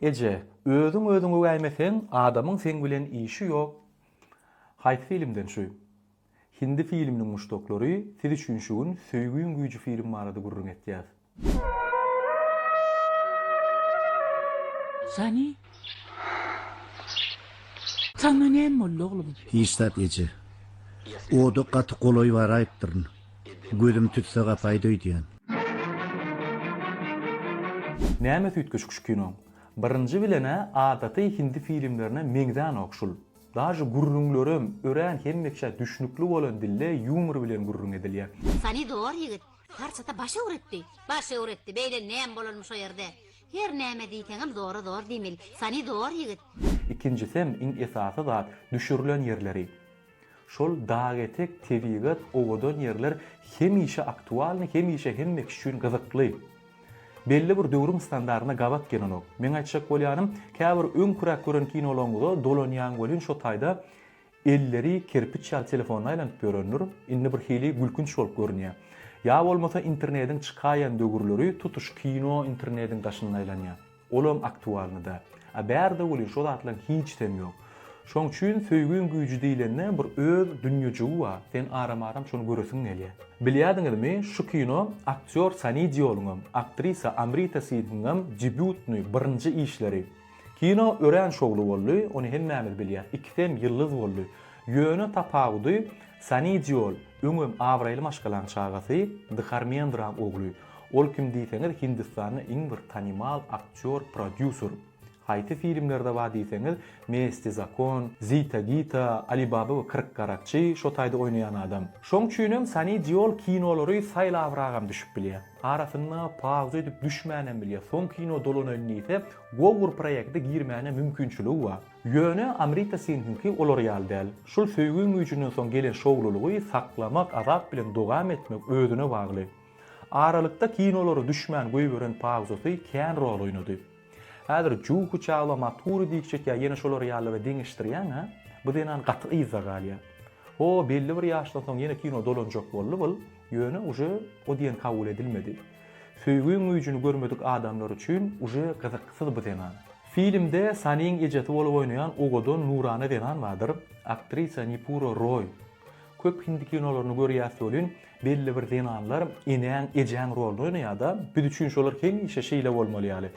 Eje, özüň özüňi öwäýmeseň, adamyň seň bilen işi ýok. Haýsy filmden şu? Hindi filminiň muşdaklary, siz üçin şu gün Söýgiň güýji film barada gürrüň etýäs. Sani? Saňa näme boldy oglum? Hiç zat eje. Oda gaty golaý baraýypdyryn. Gözüm tütse gapaýdy öýdýän. Näme süýtgeşik şu kino. Birinji bilenä adaty hindi filimlerine meňzänok şul. Daže gürrüňlerem örän hemmeçä düşnükli bolan dilde ýumor bilen gürrüň edilýä. Sanidor ýigit parçata baş öwretdi. Baş öwretdi, beýle näme bolalmy şo ýerde. Her näme diýseňem zora zor diýmeli. Sanidor ýigit. Ikinjisem iň esasy zat düşürilen ýerleri. Şol dag etek, tebigat, owadan ýerler hemişe aktualny, hemişe hemme kişi üçin gyzykly. Belli bir döwrüň standartyna gabat gelenok. Meň aýtjak bolýanym, käbir öňküräk gören kinolaryňyza dolanýaň welin şo taýda elleri kerpiç ýaly telefonda aýlanyp ýörendir, indi bir hili gülkünç bolup görünýär. Ýa bolmasa internediň çykaýan döwürleri tutuş kino internediň daşynda aýlanýar. Olam aktualny da. A bärde welin şo zatlaň hiçsem ýok. Şoň üçin söýgiň güýji diýlende bir öz dünýejigi bar, sen aram-aram şony göresiň gelýä. Bilýädiňizmi, şu kino aktýor Sani Dýoluňam, aktrisa Amrita Sinhiňňam debýutny, birinji işleri. Kino örän şowly boldy, ony hemmämiz bilýäs, ikisem ýyldyz boldy. Ýöne tapawudy, Sani Dýol, öňem abraýly maşgalaň çagasy, Dharmendra ogly, Ol kim diýseňiz Hindistanda iň bir tanymal aktýor prodýuser. Haýsy filmlerde bar diýseňiz Mesti zakon, Zita Gita, Ali Baba we kyrk garakçy şo taýda oýnaýan adam. Şoň üçinem Sani Diol kinolary saýlabragam düşüp bilýä. Arasynda pauza edip düşmänem bilýä. Soň kino dolanaýyn diýse gowy bir proýekte girmäne mümkinçiligi bar. Ýöne Amrita Sinhiňki olar ýaly däl. Şul söýgi güýjünden soň gelen şowlulygy saklamak, azap bilen dogam etmek özüne bagly. Aralykda kinolara düşmän goýberen pawzasy kän rol oýnady. Häzir Juhu Çawla Maturi diýip çekýär ýene şolar ýalylara deňeşdirýäň a? Bu zenan gaty yzda galýar. Ho belli bir ýaşdan soň ýene kino dolanjak boldy bul, ýöne uje o diýen kabul edilmedi. Söýgiň güýjini görmedik adamlar üçin uje gyzyksyz bu zenan. Filmde Saniň ejesi bolup oýnaýan owadan nurana zenan bardyr, aktrisa Nipura Roý. Köp hindi kinolaryny görýäs welin Belli bir zenanlar enäň, ejäň roluny oýnaýar-da, biz üçin şolar hemişe şeýle bolmaly ýaly.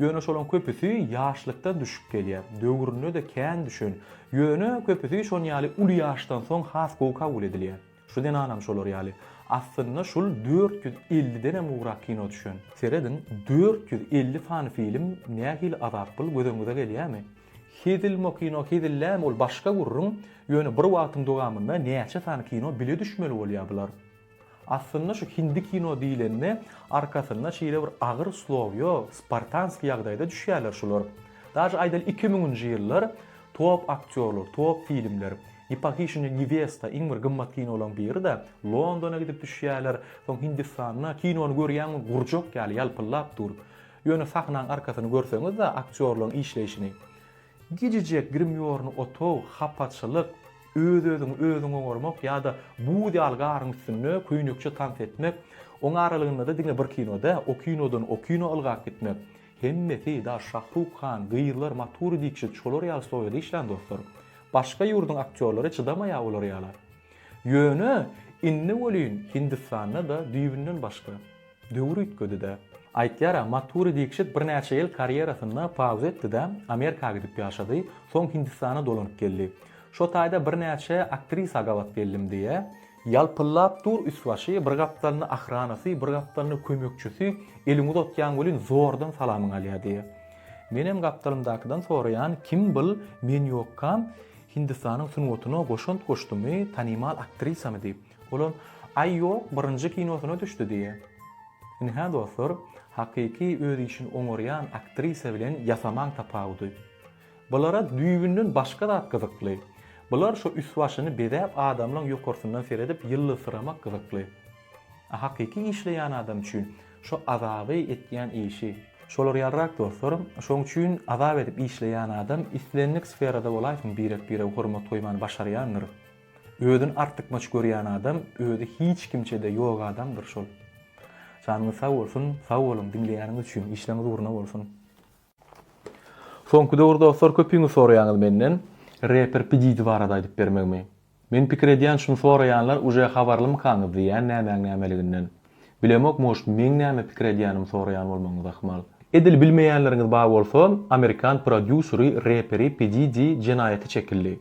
Ýöne şolaň köpüsi ýaşlykdan düşüp gelýär, döwründe-de kän düşen, ýöne köpüsi şon ýaly uly ýaşdan soň has gowy kabul edilýär. Şu zenanam şolar ýaly. Aslynda şul dört ýüz ellidenem gowrak kino düşen. Serediň, dört ýüz elli sany film nähili azap bul, gözüňize gelýärmi? Hezilmo kino hezillämi ol başga gürrüň, ýöne bir wagtyň dowamynda näçe sany kino bile düşmeli bolýar bular. Aslynda şu hindi kino diýlende arkasynda şeýle bir agyr slow ýok, spartanskiý ýagdaýda düşýärler şular. Daže aýdaly iki müňünji ýyllar top aktýorlar, top filmler, Ne pohyşenýa newesta iň bir gymmat kinolaň biri-de, Londona gidip düşýärler, soň Hindistanda kinony görýäňmi gurjak ýaly ýalpyllap dur. Ýöne sahnaň arkasyny görseňiz-de aktýorlaň işleýşini. Gijijek grimýorny otag, hapaçylyk, öz-özüňi özüň oňarmak ýa-da buz ýaly garyň üstünde köýnekçe tans etmek, oň aralygynda-da diňe bir kino dä, o kinodan o kino ylgap gitmek. Hemmesi, daş Şahruk han, gyzlar, Maturi Dikşit şolar ýaly stoýada işlän dostlar. Başga ýurduň aktýorlary çydamaýa olar ýala. Ýöne, indi welin Hindistanda-da düýbünden başga. Döwür üýtgedi-dä. Aýtýar-a, Maturi Dikşit birnäçe ýyl karýerasynda pauza etdi-de, Amerika gidip ýaşady, soň Hindistana dolanyp geldi. Şo taýda birnäçe aktrisa gabat geldim diýýär. Ýalpyllap dur üst-başy, bir gapdalynda ahranasy, bir gapdalynda kömekçisi, eliňi uzatýaň welin zordan salamyňy alýar diýýär. Menem gapdalymdakydan soraýan, kim bul, men ýokkam, Hindistanyň sungatyna goşant goşdumy, tanymal aktrisamy diýip. Olam Aý ýok birinji kinosyna düşdi diýýä. Indi hä dostlar hakyky öz işini oňarýan aktrisa bilen ýasamaň tapawudy. Bulara düýbünden başga zat gyzykly. Bular şo üst başyny bezäp adamlaň ýokarsyndan seredip ýyldyzsyramak gyzykly. A hakyky işleýän adam üçin şo azaby etýän işi. Şolar ýalyrak dostlar. Şoň üçin azap edip işleýän adam islendik sferada bolaýsyn birek birege hormat goýmany başarýandyr. Özün artykmaç görýän adam özi hiç kimçede ýok adamdyr şol. Janyňyz sag bolsun, sag boluň diňleýäniňiz üçin, işleriňiz ugruna bolsun. Soňky döwür dostlar köpüňiz soraýaňyz menden reper pididi barada aýdyp bermegimi. Men pikir edýän şuny soraýanlar uje habarlymykaňyz diýýän nämäň nämeliginden. Bilemok может meň näme pikir edýänimi soraýan bolmagyňyz ahmal. Edil bilmeýänleriňiz bar bolsa amerikan prodýuseri reperi pididi jenaýata çekildi.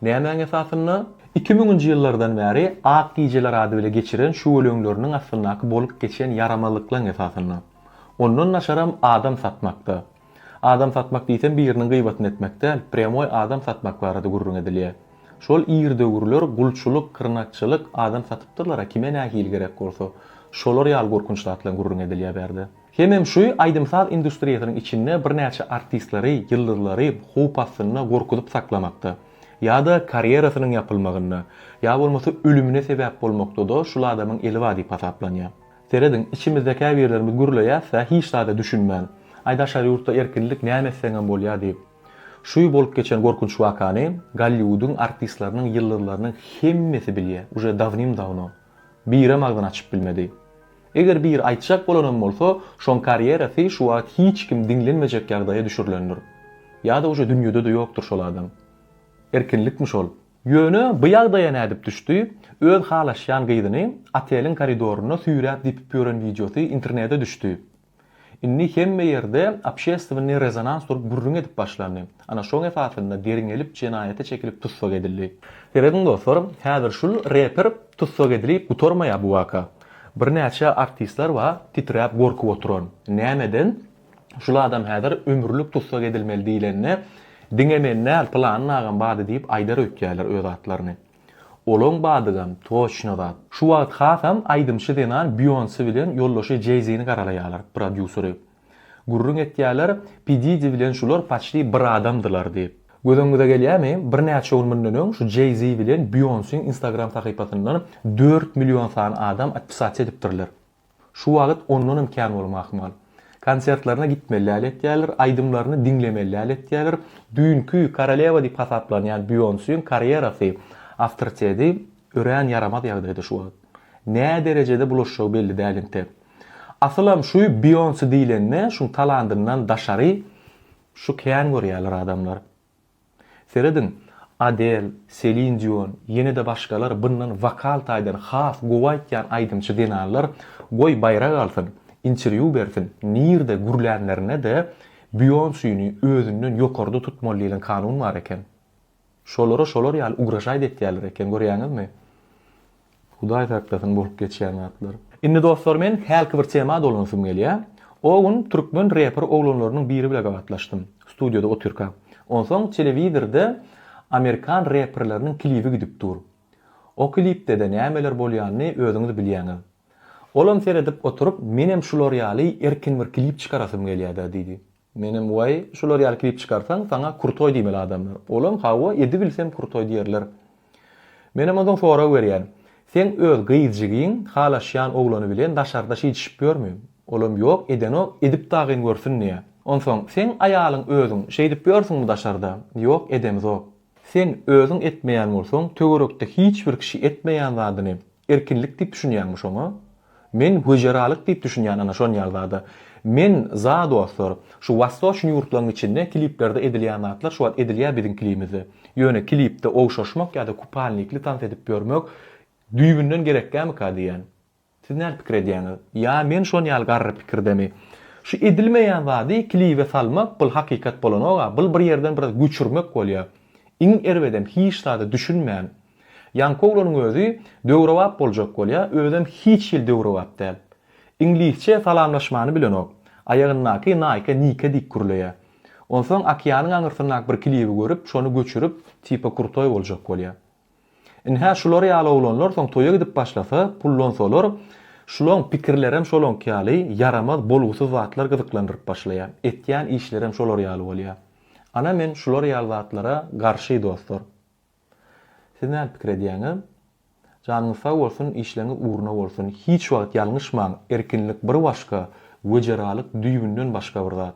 Nämäň esasynda? Iki müňünji ýyllardan bäri Ak gijeler ady bile geçiren şüweleňleriniň astyndaky bolup geçen ýaramazlyklaň esasynda. Ondan naçaram adam satmakda. Adam satmak diýsem biriniň gyýbatyny etmek däl, prýamoý adam satmak barada gürrüň edilýär. Şol ir döwürler gulçulyk, kyrnakçylyk, adam satypdyrlar-a kime nähili gerek bolsa. Şolar ýaly gorkunç zatlaň gürrüň edilýär bärde. Hemem şu aýdym-saz industriýasynyň içinde birnäçe artistlary, ýyldyzlary howp astynda gorkuzyp saklamakda, ýa-da karýerasynyň ýapylmagynda, ýa bolmasa ölümine sebäp bolmakda-da şul adamyň eli bar diýip hasaplanýar. Serediň, içimizde käbirlerimiz gürleýäs-ä hiç zada düşünmän, Aý daşary ýurtda erkinlik näme etseňem bolýar diýip. Şu bolup geçen gorkunç wakany Golliwudyň artistleriniň, ýyldyzlarynyň hemmesi bilýär, uje dawnym-dawno. Birem agzyny açyp bilmedi. Eger biri aýtjak bolanam bolsa, şoň karýerasy şu wagt hiç kim diňlenmejek ýagdaýa düşürilendir. Ýa-da uje dünýede-de ýokdur şol adam. Erkinlikmi şol? Ýöne bu ýagdaýa nädip düşdi? Öz halaşýan gyzyny oteliň koridorynda süýräp-depip ýören wideosy internete düşdi. Indi hemme ýerde obşestwennýy rezonans durup gürrüň edip başlandy. Ana şoň esasynda derňelip jenaýata çekilip tussag edildi. Serediň dostlar, häzir şul reper tussag edilip gutarmaýar bu waka. Birnäçe artistler bar titräp gorkup oturan. Nämeden? Şul adam häzir ömürlik tussag edilmeli diýlende diňe men däl pylany agam bardy diýip aýdar öýtýärler öz atlaryny. Olaň badygam toçno zat. Şu wagt hasam aýdymçy zenan Bionse bilen ýoldaşy Jay-Zini garalaýalar, prodýuseri. Gürrüň etýäler, P Didi bilen şular paçti bir adamdylar diýip. Gözüňize gelýämi, birnäçe gün mundan öň şu Jay-Zi bilen Bionsiň instagram sahypasyndan dört million sany adam atpisasiýa edipdirler. Şu wagyt ondanam kän bolma ahmal. Konsertlerine gitmelläli etýäler, aýdymlaryny diňlemelläli etýäler. Düýnki korolewa diýip hasaplanýan Beýonsiň karýerasy, awtoriteti örän ýaramaz ýagdaýda şu wagyt. Nä derejede bulaşjagy belli däl inte. Asylam şu Beýonsi diýlende şuň talandyndan daşary şu kän görýäler adamlar. Serediň, Adel, Selin Dion, ýene-de başgalar byndan wokal taýdan has gowy aýtýan aýdymçy zenanlar goý baýrak alsyn, interwýu bersin, nirde gürlänlerine-de Bionsyny özünden ýokarda tutmaly diýlen kanun bar eken. Şolara şolar ýaly ugraşaýda etýärler eken görýäňizmi? Hudaý saklasyn bolup geçýän zatlar. Indi dostlar men hälki bir tema dolansym gelýä. O gün türkmen reper oglanlarynyň biri bile gabatlaşdym. Studioda otyrka. Onsoň telewizirde amerikan reperleriniň klibi gidip dur. O klipdede nämeler bolýanyny özüňiz bilýäňiz. Olam seredip oturyp menem şular ýaly erkin bir klip çykarasym gelýäda diýdi. Menem waý şular ýaly klip çykarsaň saňa krutoý diýmeli adamlar. Olam hawa edibilsem krutoý diýerler. Menem onsoň sorag berýän. Seň öz gyzjygyň halaşýan oglany bilen daşarda şidişip ýörmi? Olam ýok edenok edip dagyn görsün diýä. Onsoň seň aýalyň özüň şeýdip ýörsüňmi daşarda? Ýok edemizok. Sen özüň etmeýän bolsaň töwerekde hiç bir kişi etmeýän zadyny Erkinlik diýip düşünýäňmi şoňa? Men wejeralyk diýip düşünýän ana şonýal zada. Men za dostlar, şu wastoçny ýurtlaň içinde kliplerde edilýän zatlar şu wagt edilýä biziň klimizde. Ýöne klipde ogşaşmak ýada kupalnikli tans edip ýörmek düýbünden gerekgämika diýýän. Siz näl pikir edýäňiz? Ýa men şonýal garry pikirdemi? Şu edilmeýän zady klibe salmak bul hakykat bolanoga bul bir ýerden biraz göçürmek bolýa. Iň erbedem hiç zada düşünmän. Ýaňky oglanyň özi döwrebap boljak bolýa, özem hiç hili döwrebap däl. Iňlisçe salamlaşmany bilenok. Aýagyndaky Nike Nike diýip gürleýä. Onsoň okeanyň aňyrsyndaky bir klibi görüp, şony göçürip, tipa krutoý boljak bolýa. Ynha şular ýaly oglanlar soň toýa gidip başlasa, pullansalar, şulaň pikirlerem şolaňky ýaly ýaramaz, bolgusyz zatlar gyzyklandyryp başlaýa. Etýän işlerem şolar ýaly bolýa. Ana men şular ýaly zatlara garşy dostlar. Siz näme pikir edýäňiz? Janyňyz sag bolsun işleňiz ugruna bolsun hiç wagt ýalňyşmaň erkinlik bir başga wejeralyk düýbünden başga bir zat.